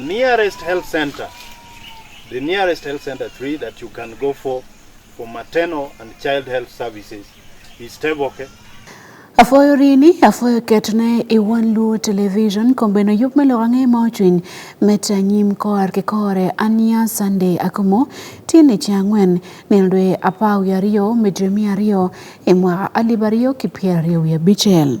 Nearest health center. The nearest health center three that you can go for for maternal and child health services is Teboke. Afoyo rini, afoyo ketne i wan luo television kombeno yup me loka nge ma ocwiny mete anyim koar ki kore ania Sunday akomo tini ci angwen nel dwe apar wiye aryo me dwe miya aryo i mwaka alip aryo ki pyera aryo wiye bicel.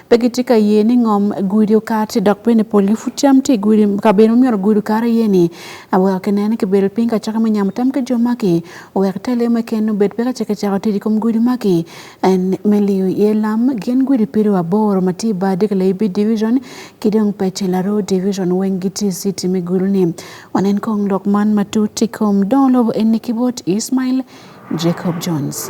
Pe gitye ka ye ni ngom gudo kati dok bene polgi pud cam tye i gudo kabedo myero gudo kare iye ni aweko kinene ki bedo piny kacaka me nyamo tam ki jo maki owek ite leo me ken obed peka ce kicako tic i kom gudo maki en me liyo iye lam gin gudo pido aboro ma tye bar dika laibi division ki dong pece laro division weng gitye city me gudo ni wanen kong lok man matut i kom dongo lobo eni ki bot Ismail Jacob Jones.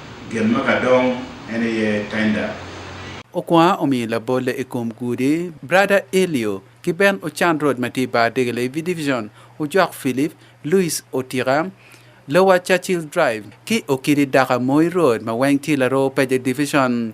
Gin ma ka dong en iye tender. Okwa omiyo labolle i kom gudi, Brada Elio ki Ben Ochan Road ma tye i bar Degele i Division, Ojok Philip, Louis Otika, Lower Churchill Drive, ki Okidi Daka Moi Road ma weng tye Laroo Peje Division.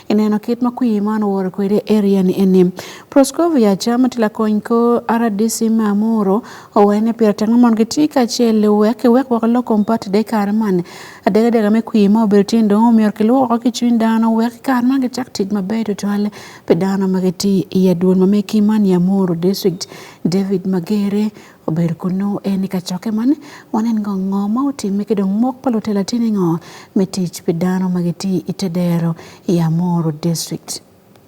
ineno kit ma kwir man oworo kwede area ni eni proscovia chama tila kony ko rdc ma amuro owene pira tango mon ki ti ka che le wek ki wek wako loko mpat de kar man adega dega me kwir ma obedo tin dong omiro ki lwoko ki cwin dano wek kar man ki chak tic ma ber tutwal pe dano ma ki ti i adwol ma me ki man ya amuro district david magere obedo kunu en i kacokke man wanen ngo ngo ma otime ki dong mok pa lutela tini ngo me tic pi dano ma giti i te dero i Amoro District.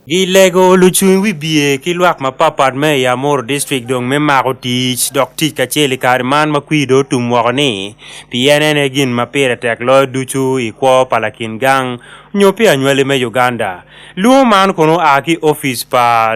Gilego lucung wibye ki lwak mapatpat me i Amoro District dong me mako tic dok tic kacel i kare man ma kwir dong otum woko ni pien en aye gin ma pire tek loyo ducu i kwo pa lakin gang nyo pi anywali me Uganda. Lwongo man kono oa ki opic pa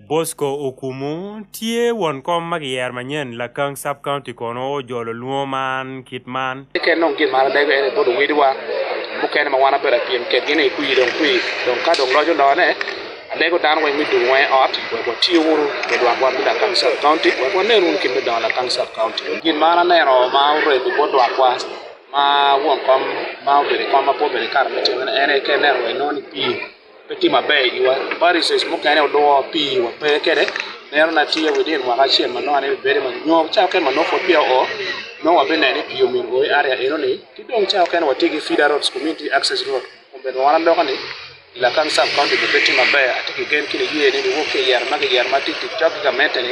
Bosco Okumu tye won kom ma giyer manyen Lakang Sub County kono ojolo lwongo man kit man. Keken dong gin mara dego ene bodo wediwa mukene ma wan abedo apyem kedgi ni kwi dong kwi dong ka dong lojo lone adego dano weng me dong weng ot wek watiyo wuru me dwak wan me Lakang Sub County wek wanen wun kit me dongo Lakang Sub County. Gin ma aneno ma oredo bot dwakwa ma won kom ma obedo kom ma po obedo kare me timone ene keken neno wek nongo ni pii pe tye maber iwa Pharisees mukene olwor pi wa pe kede neno na tye within mwaka acel ma nongo ni bedi ma nyo ca oken ma nongo pud peya o nongo wabinene ni pi omiyo goyi area eno ni ki dong ca oken watye ki feeder roads community access road obedo wan aloka ni Lakan sub county bebe tye maber atye ki gen ki niye ni niwok ki yero ma giyero ma tic tic cok ki gamente ni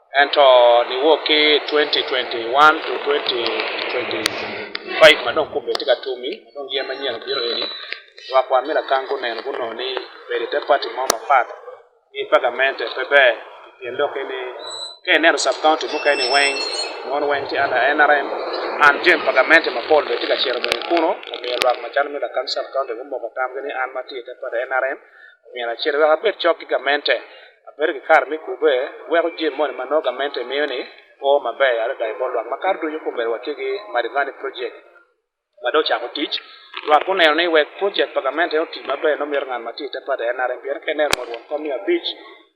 Ento niwok ki 2021 to 2025 ma dong kumbe tye ka tumi ma dong yen manyen obiro eni lwak wan me lakang guneno gunongo ni bedo ite pati mo mapat ki pagamente pe ber pien dok ni ka ineno sub county mukene weng mon weng tye under nrm an jen pagamente mapol bene tye ka cito bene kuno omiyo lwak macalo me lakang sub county gumoko tamgi ni an ma tye ite pati nrm omiyo en achiel wek abed chok gi gamente abed gi kar mikube weko jim moni ma nongo gamente miyo ni o maber adada e bor lwak ma kar duto kumbero wati gi Marivani project ma do chako tich lwak uneno ni wek project pa gamente oti maber nomiyo ng'an matit te pade en arem pien kene mondo kom mia abich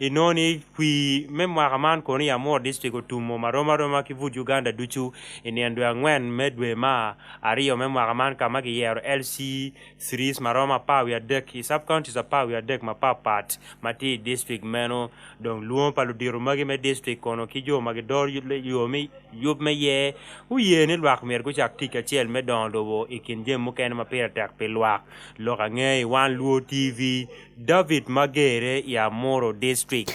I nongo ni kwir me mwaka man kono i Amur District otumo ma romo aroma ki but Uganda ducu i nino dwe angwen me dwe ma aryo me mwaka man ka ma giyero LC series ma romo apar wiye adek i sub counties apar wiye adek mapatpat ma tye i district meno. Dong lwongo pa ludito magi me district kono ki jo ma gidoro yub- yo me yub me ye guye ni lwak myero gucak tic kacel me dongo lobo i kin jami mukene ma pire tek pi lwak. Lok angeyi wan Luo TV David Magere ya Moro District.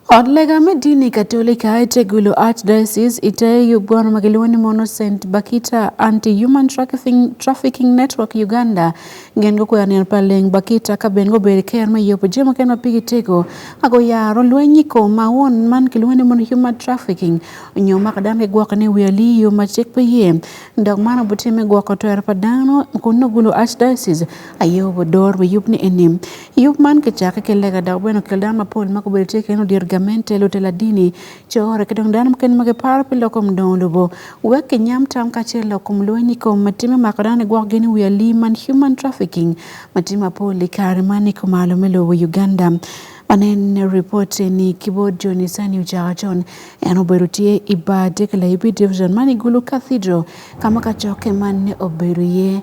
Od lega me dini Katolika e Tegulo Archdiocese iteyo bwana makiluongo ni Mono St Bakita Anti Human Trafficking, Trafficking Network Uganda gen go kwer ni paleng Bakita ka ben go ber ker ma yopo jemo ken ma pigi tego ago yaro lwenyi ko ma won man kiluongo ni Mono Human Trafficking nyo ma kadam ke gwoko ni weli yo ma chik pe ye ndog mano butime gwoko to er padano kuno gulo Archdiocese aye obodor we yub ni enim yub man kichake ki lega dok bene okel dano mapol ma gubedo tye kene odyero gamente lutelo adini core ki dong dano mukene ma giparo pi loko mudongo lobo wek kinyam tam kacel lok kom lweny i kom ma timi mako dano gwok gin i wi alim man human trafficking ma tye mapol i kare man i kumalo me lobo Uganda Wanen ripot ni kibod Johnny Sani ocaka con en obedo tye i bar Dekla Ibi Division man i Gulu Cathedral ka ma kacokke man ne obedo iye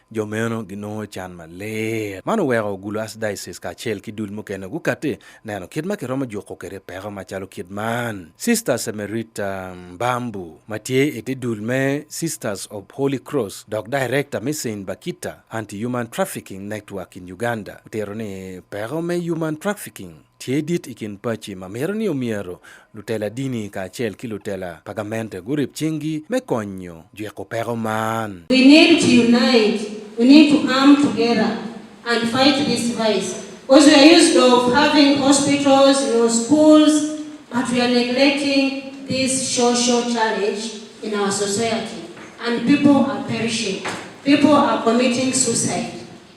Jo meno ginongo can maler. Man oweko ogulo Archdiocese kacel ki dul mukene gukati neno kit ma kiromo juko kede peko macalo kit man. Sister Semerita Mbambu ma tye i te dul me Sisters of Holy Cross dok Director me Saint Bakita Anti-Human Trafficking Network in Uganda otero ni peko me human trafficking Tye dit i kin paci ma mito ni omyero lutela dini kacel ki lutela pa gamente gurib cinggi me konyo jwiko peko man. We need to unite, we need to come together and fight this vice because we are used of having hospitals, you know, schools, but we are neglecting this social challenge in our society and people are perishing, people are committing suicide.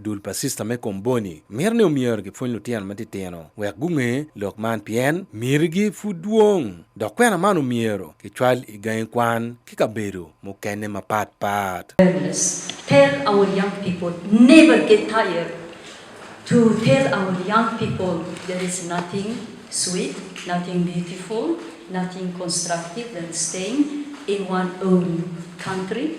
dul pa sista me komboni mito ni omyero gipwony lutino matitino wek gunge lok man pien mirigi pud dwong dok kwena man omyero kicwal i gangi kwan ki kabedo mukene mapatpat Tell our young people never get tired to tell our young people there is nothing sweet, nothing beautiful, nothing constructive than staying in one own country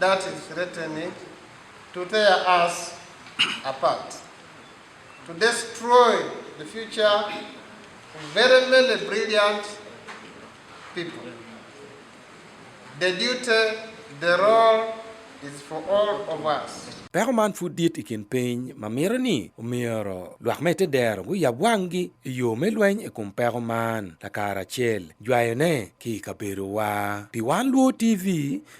that is threatening to tear us apart, to destroy the future of very many brilliant people. The duty, the role is for all of us. Peko man pud dit i kin piny ma mito ni omyero lwak me te dero guyab wanggi i yo me lweny i kom peko man lakara acel jwayone ki i kabedowa. Pi Wan Luo TV,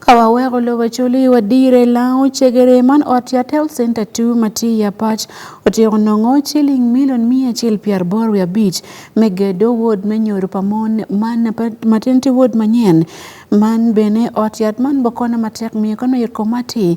Ka waweko lobo culi wadire lango cegere man ot ya tel center 2 ma tye ya pac otyeko nongo ciling milion miya acel pi arbor wi abic me gedo wod me nyodo pa mon man ma tin ti wod manyen man bene ot yat man bokono matek miyo kano yot komati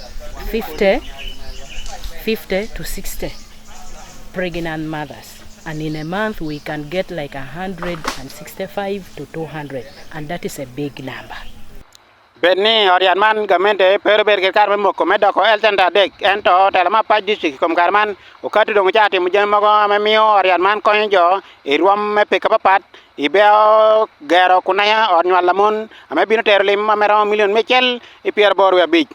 50, 50 to 60 pregnant mothers. And in a month, we can get like 165 to 200. And that is a big number. bed ni odian man gamente pero bed kar me moko me doko el center dek en to telo ma pa district kom kar man okati dong cha timo jen mogo me miyo odian man konyo jo i rwom me pika papat Ibeo gero kunaya ot nywal lamon ame bino tero lim ma meromo milion mecel i pyero bor wi abic.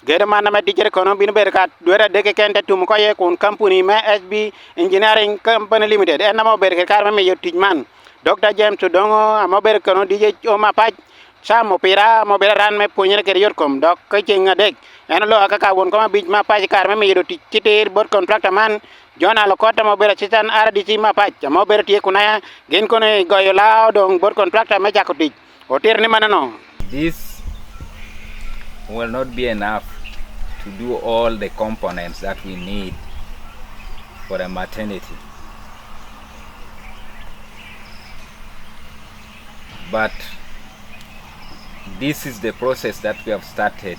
Gedo man ame dijere kono bino bedo ka dwera deke ken te tumu koye kun kampuni me SB Engineering Company Limited en ame obedo kede kare me miyo tic man. Dr. James Odongo ame obedo kono dije o mapac Sam opira mo bedo ran me puonjere kede yot kom dok ka ceng adek en oloa kaka won kom abic ma pac kare me miyo tic ki tir bot kontrakta man jona lo kota mo bera chitan ara di chima pa mo bera tie kuna ya gen ko ne go yo lao dong bot contractor me jako tich otir ni manano this will not be enough to do all the components that we need for a maternity but this is the process that we have started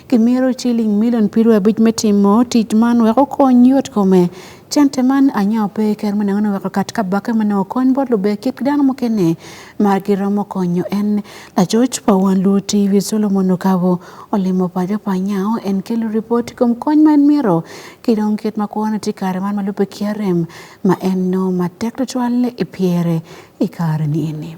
Kimito ciling milion piero abic me timo tic man wek okony yot kome. Cente man anya ope i kero manengo ni weko kat kabake mane okony bot lube kit dano mukene ma giromo konyo en lacoc pa wan lu TV Solomon Okabo olimo paco pa nyao en kelo ripot i kom kony ma en miro ki dong kit ma kwone tye kare man ma lube ki arem ma en nongo matek tutwal i pyere i kare ni eni.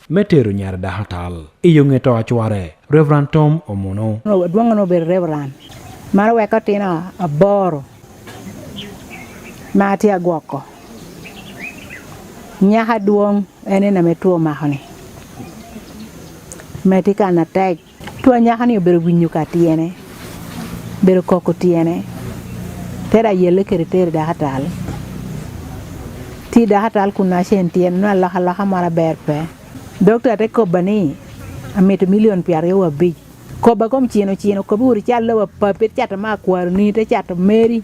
me tero nyar daha tal iyo ng'e to achware Reverend Tom Omuno duong' no ber Reverend mar weko tino aboro ma ti agwoko nyaka duong' en ina me tuo makoni me ti kana tek Tua nyaka ni obedo winyo ka tiene. Bedo koko tiene. Tera yele kere tere da hatal. Ti da hatal kuna shen tiene na laka laka mara ber pe. Dokta te koba ni amito milion piar yo wabij. Koba kom chino chino kobi uri chal lewa papet chata ma kwaro ni te chata meri.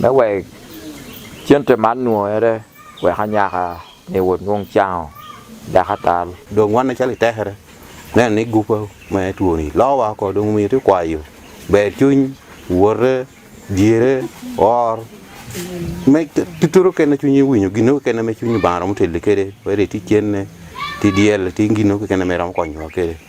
me wek cente man nwongere wek anyaka ni wod nwong cango dek atal dong wan acalo itekere neno ni gupa ma twoni lowa ko dong omiyo ti kwayo ber cuny wote dyere or me tuturo kene cwiny iwinyo gino kene me cwiny banga romo teli kede wede ti cenne ti dyel ti gino kene me romo konyowa kede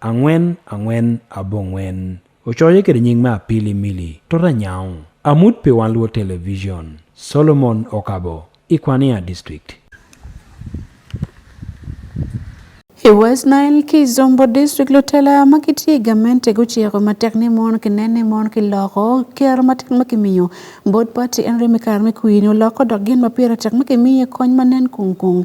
Angwen angwen abongwen ocoyo kede nying me Apili Mili Tota Nyau, amut pi wan luo television, Solomon Okabo, Ikwania District. I West Nile ki Zombo District lutela ma gitye i gamente guciko matek ni mon kinen ni mon ki loko kero matek ma kimiyo bot pati Henry Mikar me kwini oloko dok gin ma pire tek ma kimiye kony ma nen kung kung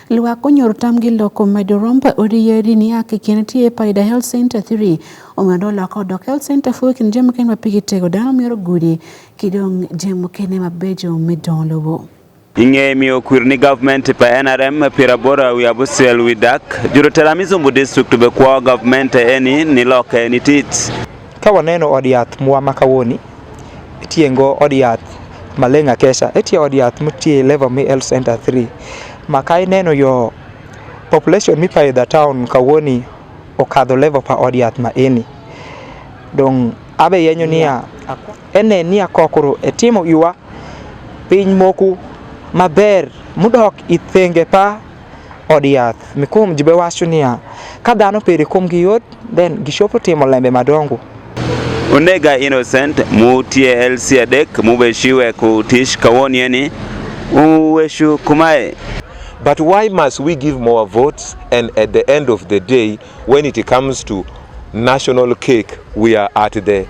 Lwa konyor tamgi loko medo romb oriyeri ni ake kien tie paida health center 3 omedo loko dok health center fuo kin jemo ken mapigi tego dano miyoro gudi kidong jemo kene mabejo medong lobo. Ing'e mi okwir ni government pa NRM pira bora wi abusel wi dak. Juro tera mizumbu district be kwa government eni ni loke ni tits. Ka waneno od yath mwa ma kawoni, itiye ngo od yath Maleng Akesha, itiye od yath mitiye Level Me Health Center 3. Ma ka ineno yo population mipayo the town kawoni okadho level pa od yath ma eni. Dong abe yenyo niya, ene niya kokoro etimo iwa piny moku maber mudok ithenge pa od yath. Mikum jibe wacho niya, ka dhano pere kuom gi yot, then gishopo timo lembe madongo. Onega Innocent mutie elsi adek mubeshiwe kutish kawoni eni uweshu kumae. But why must we give more votes and at the end of the day when it comes to national cake we are at the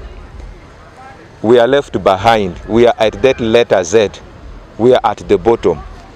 we are left behind we are at that letter Z we are at the bottom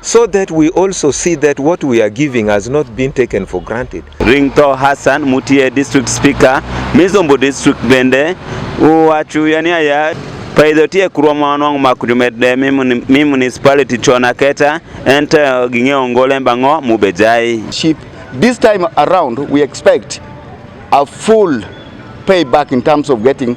so that we also see that what we are giving has not been taken for granted. Ringto Hassan Mutie District Speaker Mizombo District bende uwachu yani aya paidhotie kurwa mwanwang' makujumedde mi municipality chona keta ente ging'e ongole mbang'o mubejai ship this time around we expect a full payback in terms of getting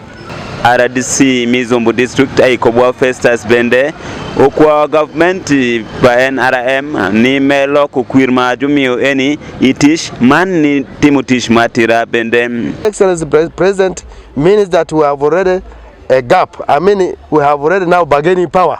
rdc mizumbu district aikobwa festus bende okwawa gavumenti pa nrm ni me loko kwir ma jumiyo eni i tich man ni timo tich ma tira bende excellency president means that we have already a gap i mean we have already now bargaining power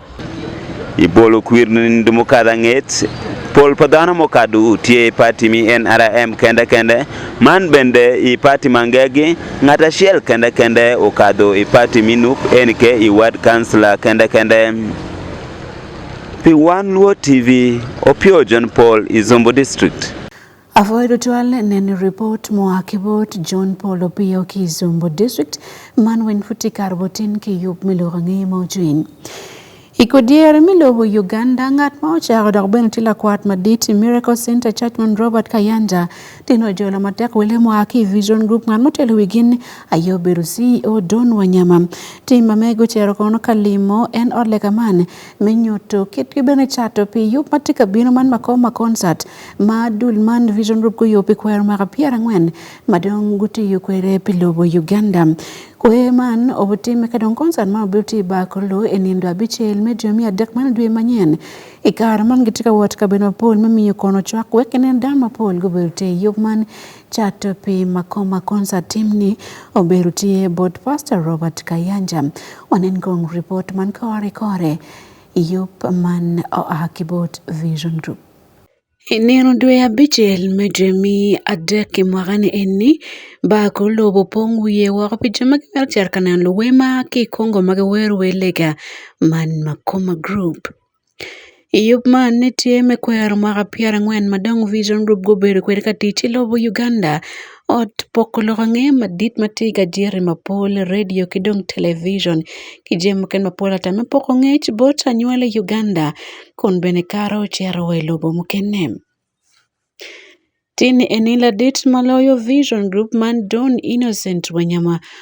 i bolo kwir ni dumo kadha ng'et pol pa dhano mokadu tye i pati mi nrm kende kende man bende i pati mangegi ngat acel kende kende okadho i pati mi nup nk i ward kansla kende kende pi wan luo tv opio john paul i zombo district Avoid Otwal neno report moa Kibot John Paul Opiyo Kizumbo District man wen futi kar botin ki yub miluko ng'eye ma ocwiny. I kodyere me lobo Uganda, ngat ma ocako dok bene tye lakwat madit i Miracle Center Church man Robert Kayanja tye ni ojolo matek wele moa ki i Vision Group ngat motelo wi gin aye obedo CEO Don Wanyama. Tim ma mege ocero kono ka limo en ot lega man me nyuto kitgi bene cato pi yub ma tye ka bino man Makoma Concert ma dul man Vision Group guyo pi kwer mwaka pyero angwen ma dong gutiyo kwede pi lobo Uganda. Kwer man obitime ka dong konsat ma obiluti ba kolo e nindo abicel me dwe miya dek man dwe manyen. I kare man gitye ka wot ka bedo mapol me miyo kono cwak wek ginen dano mapol gubedo te i yub man cato pi makoma konsat tim ni obedo tye bot Pastor Robert Kayanja. Wanen kong report man kore kore i yub man oa ki bot Vision Group. E nino dwe abicel me dwe me adek i mwaka-ni eni, bar kor lobo opong wiye woko pi jo ma gimito cito ka neno luwe ma ki i Congo ma giwero wer lega man Makoma Group. I yub man ni tye me kwero mwaka pyerangwen ma dong Vision Group gubedo kwede ka tic ki lobo Uganda. ot poko loko ang'e madit ma tye gadier i mapol, redio ki dong television ki jami mukene mapol ata me poko ngec bot anywali i Uganda kun bene kato ocito wa i lobo mukene. Tin eni ladit ma loyo Vision Group man Don Innocent Wanyama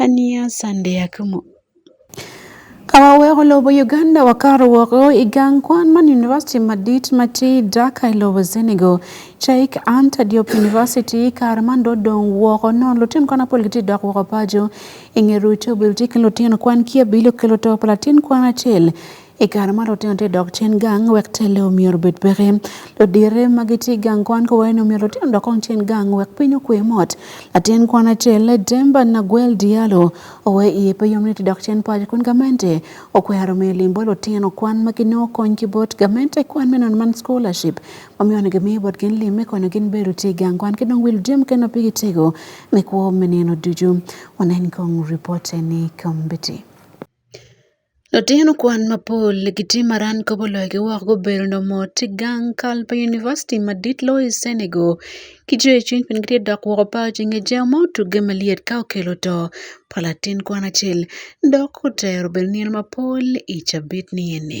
Aniya Sunday Akumu. Ka waweko lobo Uganda wakato woko i gang kwan man University madit ma tye i Dhaka i lobo Senegal. Sheikh Anta Diop University kare man do dong woko nono lutino kwan mapol gitye dok woko paco i nge rwed to obilo tye ki lutino kwan ki abilo ki luto pa latin kwan acel I kare ma lutino tye dok cen gang wek telle omyero obed peke. Ludire ma gitye i gang kwan kowaye ni omyero lutino dok kong cen gang wek piny okwe mot. Latin kwan acel, Demba Naguel Diallo, owe iye pe yom ni tye dok cen paco kun gamente okwero miyo lim bot lutino kwan ma ginongo kony ki bot gamente i kwan me nono man scholarship ma miyo ni gimiyo bot gin lim me konyo gin bedo lutye i gang kwan ki dong wil jami mukene ma pigi tego me kwo me nino ducu. Wanen kong ripote ni kombeddi. Latin kwan mapol ki tye ma RAN kobo loyogi woko gubedo nyo mot ki gang kal pa univaciti madit loyo i Cenegal ki jo icwiny pien gitye dok woko bao ci nge jemo ma otugge malyet ka okelo to pa latin kwan acel dok otero bene nino mapol i cabit ni eni.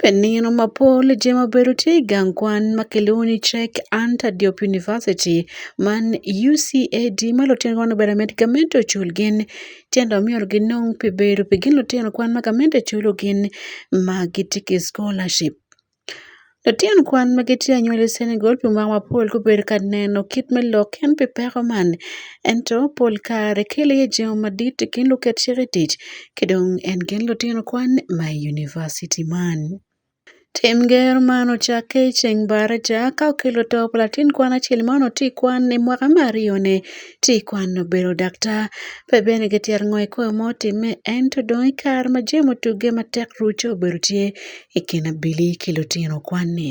Penino mapol jema bedo tie gangwan makeloni check anta Diop University man UCAD malo tien gwan obera med gamento chul gin tienda miol gin nong pe bedo pe gin lutino kwan ma gamento chulo gin ma gitiki scholarship. Lutino kwan ma gitye anywal i Senegal pi mwaka mapol gubedo ka neno kit me lok en pi peko man ento pol kare kelo iye jemo madit i kin luket cik i tic Kidong' en Kenl Otieno Kwan ma University man. Tim ger ma nochaki ceng bara ca ka okelo to Platin Kwan acel ma noti kwan i mwaka me aryo ni ci kwan obedo daktar. Pe bene kityero ngo i koyo mo time ento dong i kare ma jemo otugge matek ruco obedo tye i kin Abili ki Lutino Kwan-ni.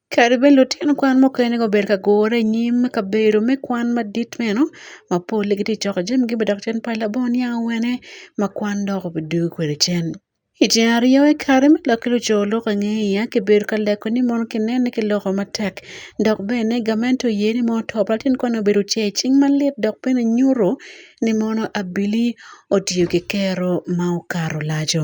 Kare bende otyen kwan moko en iga ober ka gore e nyim kabedo me kwan madit meno ma polle gitye ka coko jamigi bene dok cen pa labongo niang awene ma kwan dok obedo kwede cen. I tyen aryo i kare me lok ki luco lok ange iya kibedo ka leko ni mono kinene ki loko matek dok bene gamente oye ni mono to pa latin kwan-ni obedo ocer cing malit dok bene nyuto ni mono abili otiyo ki kero ma okato laco.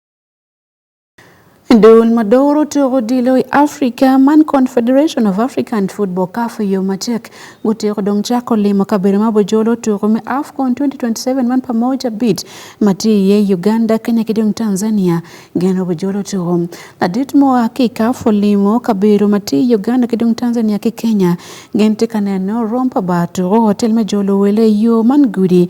Duol madoro to odilo i Africa man Confederation of African Football CAF yo matek gutiko dong chako limo kabedo ma bojolo tuko me AFCON 2027 man pamoja bit mati ye Uganda Kenya ki dong Tanzania geno bojolo tuko ladit mo ki CAF olimo kabedo mati Uganda ki dong Tanzania ki Kenya gen ti kaneno rompa ba tuko hotel me jolo wele yo man gudi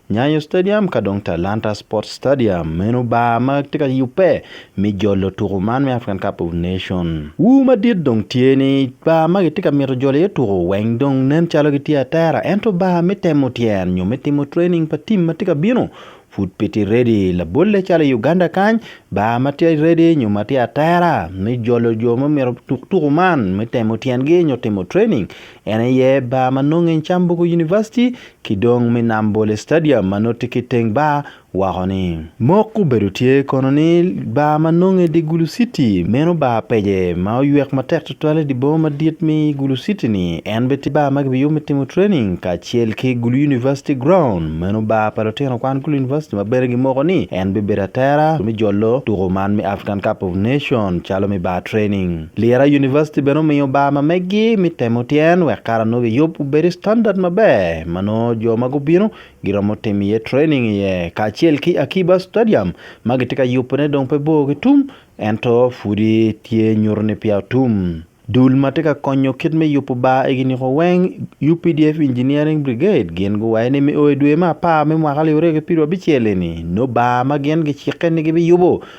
Nyayo Stadium ka dong Talanta Sports Stadium meno bar ma tye ka yubbe me jolo tuko man me African Cup of Nation. Wu madit dong tye ni bar ma gitye ka mito jolo iye tuko weng dong nen calo gitye atera ento bar me temo tyen nyo me timo training pa tim ma tye ka bino pud pe tye ready. Labolle calo i Uganda kany bar ma tye ready nyo ma tye atera me jolo jo ma mito tuk tuko man me temo tyengi nyo timo training En aye bar ma nonge i Cambugu University ki dong me Nambole Stadium ma nongo tye ki teng bar woko ni. Mok obedo tye kono ni bar ma nonge i di Gulu City meno bar pece ma oywek matek tutwale i di boma madit me Gulu City ni en bene tye bar ma ki biyubo me timo training kacel ki Gulu University Ground meno bar pa lutino kwan Gulu University ma bene gi moko ni en bibedo atera me jolo tuko man me African Cup of Nation calo me bar training. Lira University bene omiyo bar ma meggi mi temo tyen wek kara nongo giyub obedi standard maber ma nongo jo ma gubino giromo timo iye training iye kacel ki Akiba Stadium ma gitye ka yubone dong pe bor ki tum ento pudi tye nyuto ni peya otum. Dul ma tye ka konyo kit me yubo bar egi niko weng UPDF Engineering Brigade gin guwaco ni me o i dwe me apar me mwaka alip aryo ki pyerabicel eni nongo bar ma gin gicikke ni gibiyubo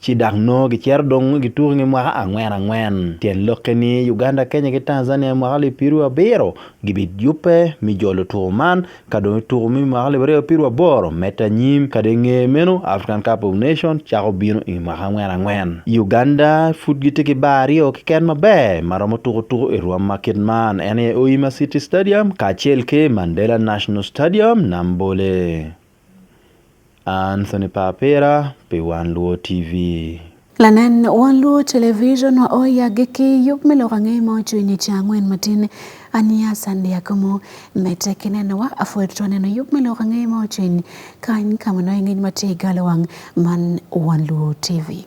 ci dok nongo gicito dong gituko nge mwaka angwen angwen tyen lokke ni Uganda Kenya ki Tanzania mwaka alip pirwu abiro gibi yubbe mi jolo tuko man ka dong tuko mi mwaka alip aryo pirwu aboro mete anyim ka dong nge meno African Cup of Nation cako bino i mwaka angwen angwen Uganda pud gitye ki bar aryo kiken maber ma romo tuko tuko i rwom ma kit man en aye Oyima City Stadium kacel ki Mandela National Stadium Nambole Anthony Papera, pi Wan Luo TV. Lanen Wan Luo Television wa oya gi ki yub me loka ng'e ma ocho inye cha ng'wen matin ania sandi ya kumu mete kinen wa afuer to neno yub me loka ng'e ma ocho inye kan kamano ing'e mati galo wang man Wan Luo TV.